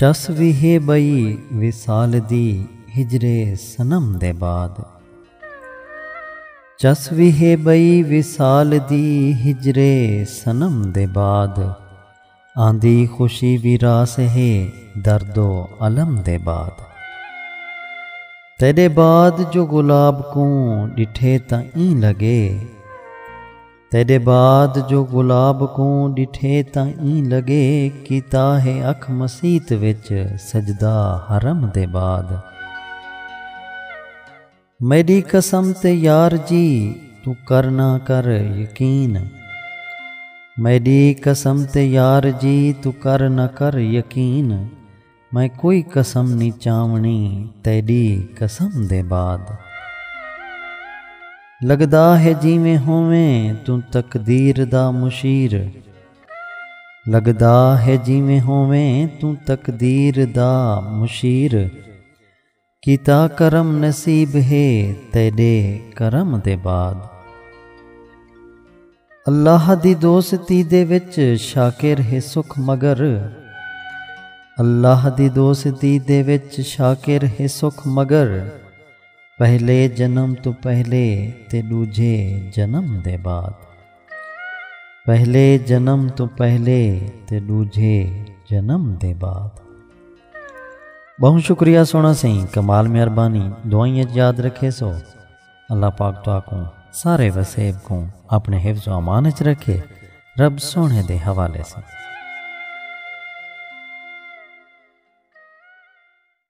چس وی ہے ٻئی وصال دی ہجر صنم دے بعد۔ چس وی ہے ٻئی وصال دی ہجر صنم دے بعد۔ آندی خوشی وی راس ہے درد و الم دے بعد۔ تیݙے بعد جو گلاب کوں ݙٹھے تاں ایں لڳے۔ تیݙے بعد جو گلاب کوں ݙٹھے تاں ایں لڳے کیتا ہے اکھ مسیت وچ سجدہ حرم دے بعد۔ میݙی قسم تے یار جی توں کر نہ کر یقین۔ میݙی قسم تے یار جی توں کر نہ کر یقین۔ میں کوئی قسم نی چاونڑی تیڈی قسم دے بعد۔ لگدا ہے جیویں ہوویں توں تقدیر دا مشیر۔ لگدا ہے جیویں ہوویں توں تقدیر دا مشیر۔ کیتا کرم نصیب ہے تیڈے کرم دے بعد۔ اللہ دی دوستی دے وچ شاکر ہے سکھ مگر۔ اللہ دی دوستی دے وچ شاکر ہے سکھ مگر۔ پہلے جنم توں پہلے تے ڈوجھے جنم دے بعد۔ پہلے جنم تو پہلے تے ڈوجھے جنم دے بعد بہت شکریہ سونا سائیں کمال مہربانی دعائیں یاد رکھے سو اللہ پاک تو آکوں سارے وسیب کو اپنے حفظ و امان چ رکھے رب سونے دے حوالے سے